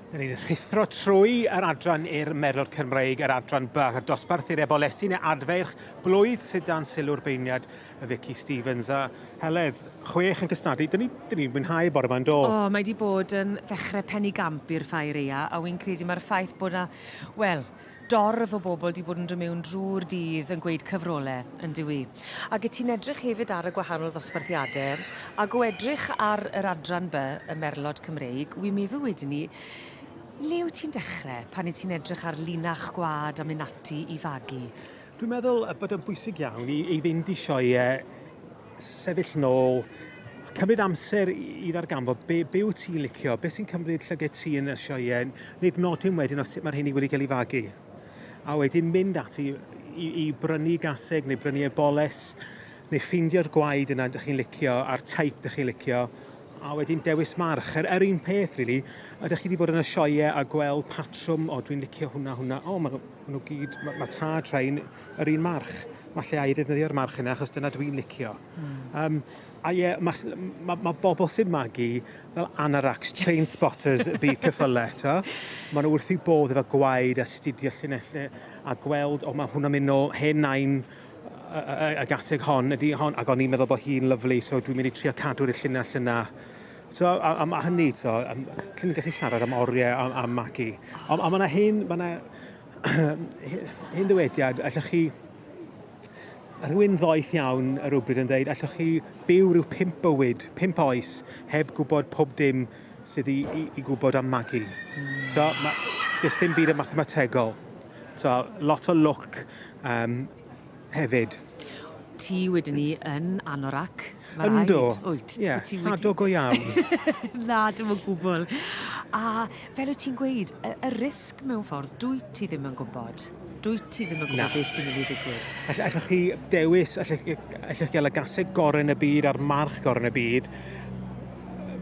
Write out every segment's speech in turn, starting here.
Dyn ni'n rhuthro trwy yr adran i'r Meddwl Cymreig, yr adran bach, y dosbarth i'r ebolesi neu adferch blwydd sydd dan sylw'r beirniad y Vicky Stevens a Heledd, chwech yn cystadu. Dyn ni'n ni, ni mwynhau bore yma'n do? O, oh, mae di bod yn ddechrau pennu gamp i'r ffair eia, a wy'n credu mae'r ffaith bod na, wel, dorf o bobl 'di bod yn dod mewn drwy'r dydd yn gweud cyfrole, yndyw 'i? Ac 'yt ti'n edrych hefyd ar y gwahanol ddosbarthiade, ac o edrych ar yr adran by, y merlod Cymreig, wi'n meddwl wedyn 'ny, le wyt ti'n dechre pan 'yt ti'n edrych ar linach gwlad a myn' ati i fagu? Dwi'n meddwl bod o'n bwysig iawn i i fynd i sioeau sefyll nôl, cymryd amser i ddarganfod be, be wyt ti'n licio, beth sy'n cymryd llyged ti yn y sioe, wneud nodyn wedyn os mae'r hynny wedi cael ei fagu. A wedyn mynd ati i, i brynu gaseg neu brynu eboles neu ffeindio'r gwaed yna ydych chi'n licio a'r taip ydych chi'n licio a wedyn dewis march. Yr, er un peth, rili, really, ydych chi wedi bod yn y sioe a gweld patrwm, o, dwi'n licio hwnna, hwnna, o, maen nhw, ma nhw gyd, mae ma tad rhain, yr un march. Mae lle a'i ddefnyddio'r march yna, achos dyna dwi'n licio. Mm. Um, a ie, mae ma, ma bobl sy'n magu fel anaracs, chain spotters y byd cyffyle, to. Mae nhw wrth i bodd efo gwaed a studio llunellau a gweld, o, mae hwnna'n mynd o hen nain y gaseg hon, ydy hon, ac o'n i'n meddwl bod hi'n lyflu, so dwi'n mynd i trio cadw'r llinell yna. So, a, a, a hynny, so, um, chi'n gallu siarad am oriau a, a magu. Ond ma, ma yna hen, ma yna Hyn ddywediad, allwch chi... Rhywun ddoeth iawn ar rywbryd yn dweud, allwch chi byw rhyw pimp bywyd, pimp oes, heb gwybod pob dim sydd i, i, i gwybod am magu. Mm. So, ma, does dim byd yn mathemategol. So, lot o lwc, um, hefyd. Ti wedi ni yn anorac, mae rhaid. Ynddo, wyt, yeah, wyt sado go iawn. Na, dim o gwbl. A fel wyt ti'n gweud, y, y risg mewn ffordd, dwi ti ddim yn gwybod. Dwi ti ddim yn gwybod beth sy'n mynd i ddigwydd. All, allwch chi dewis, allwch, allwch chi gael y gaseg gorau yn y byd a'r march gorau yn y byd,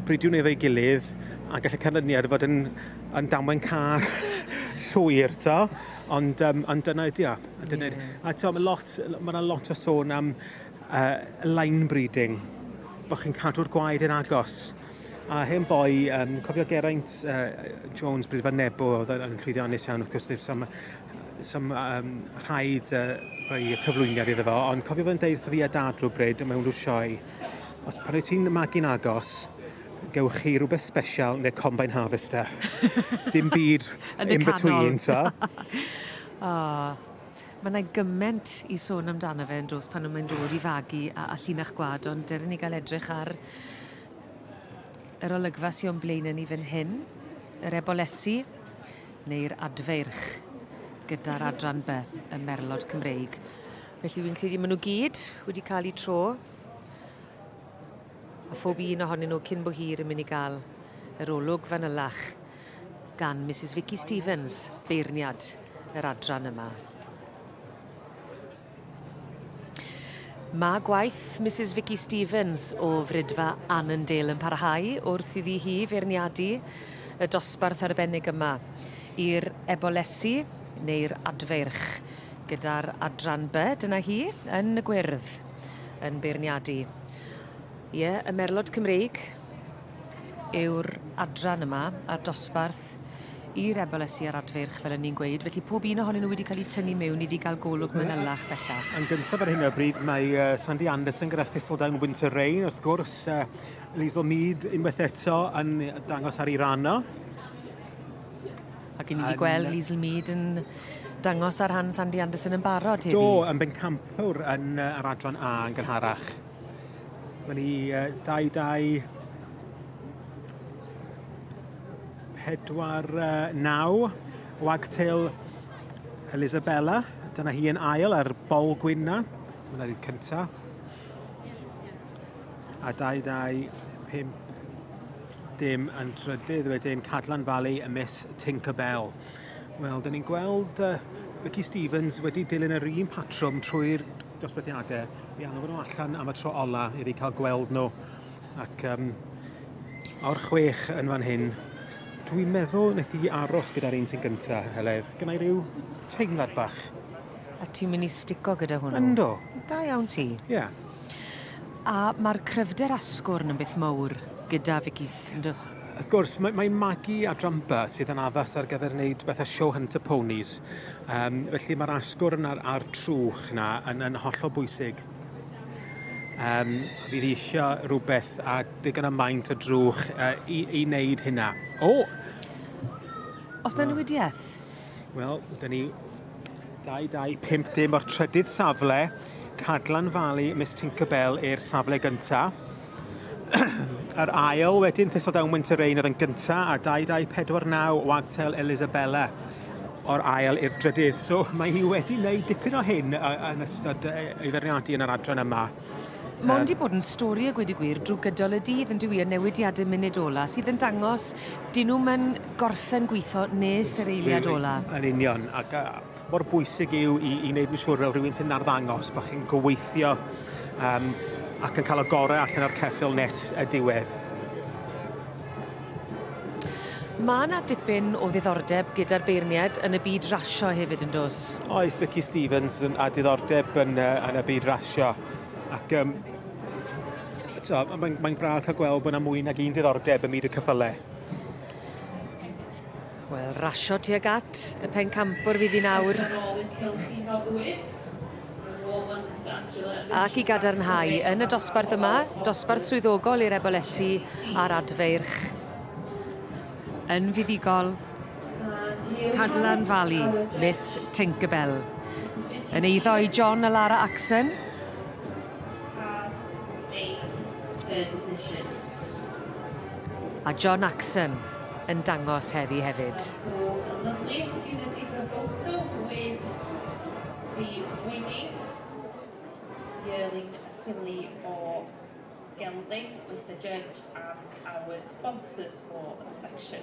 bridiwn efo'i gilydd, a gallai canlyniad fod yn, yn damwain car llwyr, to. Ond, um, ond dyna ydi o. Dyna yeah. A to, mae lot, ma yna lot o sôn am uh, line breeding, bod chi'n cadw'r gwaed yn agos. A hen boi, um, cofio Geraint uh, Jones, bryd fan Nebo, oedd yn llwyddiannus iawn, wrth gwrs, sam, sam um, rhaid uh, rhoi cyflwyniad iddo fo, ond cofio fe'n deud wrtho fi a dad rhywbryd mewn rhyw sioe, os pan wyt ti'n magu'n agos, gewch chi rhywbeth sbesial yn y Combine Harvester. Dim byd in between, so. oh, Mae yna gyment i sôn amdano fe yn dos pan mae'n dod i fagu a, a llinach gwad, ond dyr ni gael edrych ar yr olygfa sy'n o'n blaen yn ni fan hyn, yr ebolesi neu'r adfeirch gyda'r adran by y merlod Cymreig. Felly fi'n credu maen nhw gyd wedi cael eu tro a phob un ohonyn nhw cyn bo hir yn mynd i gael yr olwg fanylach gan Misus Vicky Stevens, beirniad yr adran yma. Mae gwaith Misus Vicky Stevens o Frydfa Annandale yn parhau wrth iddi hi feirniadu y dosbarth arbennig yma i'r ebolesi neu'r adfeirch gyda'r adran by. Dyna hi yn y gwyrdd. yn beirniadu. Ie, y merlod Cymreig yw'r adran yma a'r dosbarth i'r ebolysu a'r adfeirch, fel yn ni'n gweud. Felly pob un ohonyn nhw wedi cael eu tynnu mewn iddi gael golwg manylach bellach. Yn gyntaf ar hyn o bryd, mae uh, Sandy Anderson gyda Thistledown Winter Rain, wrth gwrs, uh, Liesl Mead unwaith eto yn dangos ar ei rano. Ac i ni 'di gweld Liesl Mead yn dangos ar rhan Sandy Anderson yn barod heddi. Do, yn bencampwr yn uh, yr adran A yn gynharach. Mae ni uh, 2-2 pedwar uh, naw wagtail Elisabella. Dyna hi yn ail ar bol gwynna. Dyna ni'r cyntaf. A 2-2 5 dim yn trydydd wedyn Cadlan Valley y Miss Tinkerbell. Wel, dyn ni'n gweld uh, Ricky Stevens wedi dilyn yr un patrwm trwy'r dosbarthiadau. Mi angen nhw allan am y tro ola iddi cael gweld nhw. Ac um, o'r chwech yn fan hyn, dwi'n meddwl wnaeth i aros gyda'r un sy'n gyntaf, Heledd. Gynnau rhyw teimlad bach. A ti'n mynd i stico gyda hwnnw? Ynddo. Da iawn ti. Ie. Yeah. A mae'r cryfder asgwrn yn beth mowr gyda Vicky Sanders. Wrth gwrs, mae, mae Maggie a Drampa sydd yn addas ar gyfer wneud beth a show Hunter Ponies. Um, felly mae'r asgwrn a'r, ar trwch na yn, yn hollol bwysig. Um, fydd eisiau rhywbeth a digon y maint o drwch uh, i, i wneud hynna. O! Os na newidiaeth? Wel, da ni 2250 o'r trydydd safle, Cadlan Valley, Miss Tinkerbell i'r safle gyntaf. Yr ail wedyn, Thistle Down Winter Rain oedd yn gyntaf, a 2249 Wagtail Elisabella o'r ail i'r drydydd. So mae hi wedi gwneud dipyn o hyn yn ystod ei ferniadu yn yr adran yma. Mae'n di bod yn stori a gweud y gwir drwy gydol y dydd yn dywi y newidiadau munud ola sydd yn dangos dyn nhw'n yn gorffen gweithio nes yr eiliad ola. Yn union, ac uh, mor bwysig yw i, i wneud yn siŵr fel rhywun sy'n arddangos bod chi'n gweithio um, ac yn cael y gorau allan o'r ceffil nes y diwedd. Mae yna dipyn o ddiddordeb gyda'r beirniad yn y byd rasio hefyd yn dos. Oes, Vicky Stevens a diddordeb yn, yn y byd rasio. Sio. Ac um, so, mae'n mae braf cael gweld bod yna mwy nag un diddordeb ym myd y cyffyle. Wel, rasio tuag at y pen campwr fydd hi'n awr. Ac i gadarnhau yn y dosbarth yma, dosbarth swyddogol i'r ebolesi a'r adfeirch. Yn fuddigol, Cadlan Valley, Miss Tinkerbell. Yn eiddo i John a Lara Axon. A John Axon yn dangos heddi hefyd. Yearling Finley o Gelding with the judge and our sponsors for the section.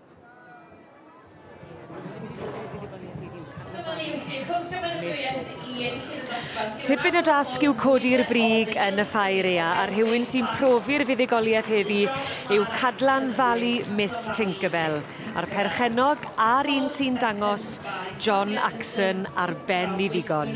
Tipyn o dasg yw codi'r brig yn y ffair ea, a rhywun sy'n profi'r fuddugoliaeth heddi yw Cadlan Valley Miss Tinkerbell, a'r perchennog a'r un sy'n dangos John Axon ar ben i ddigon.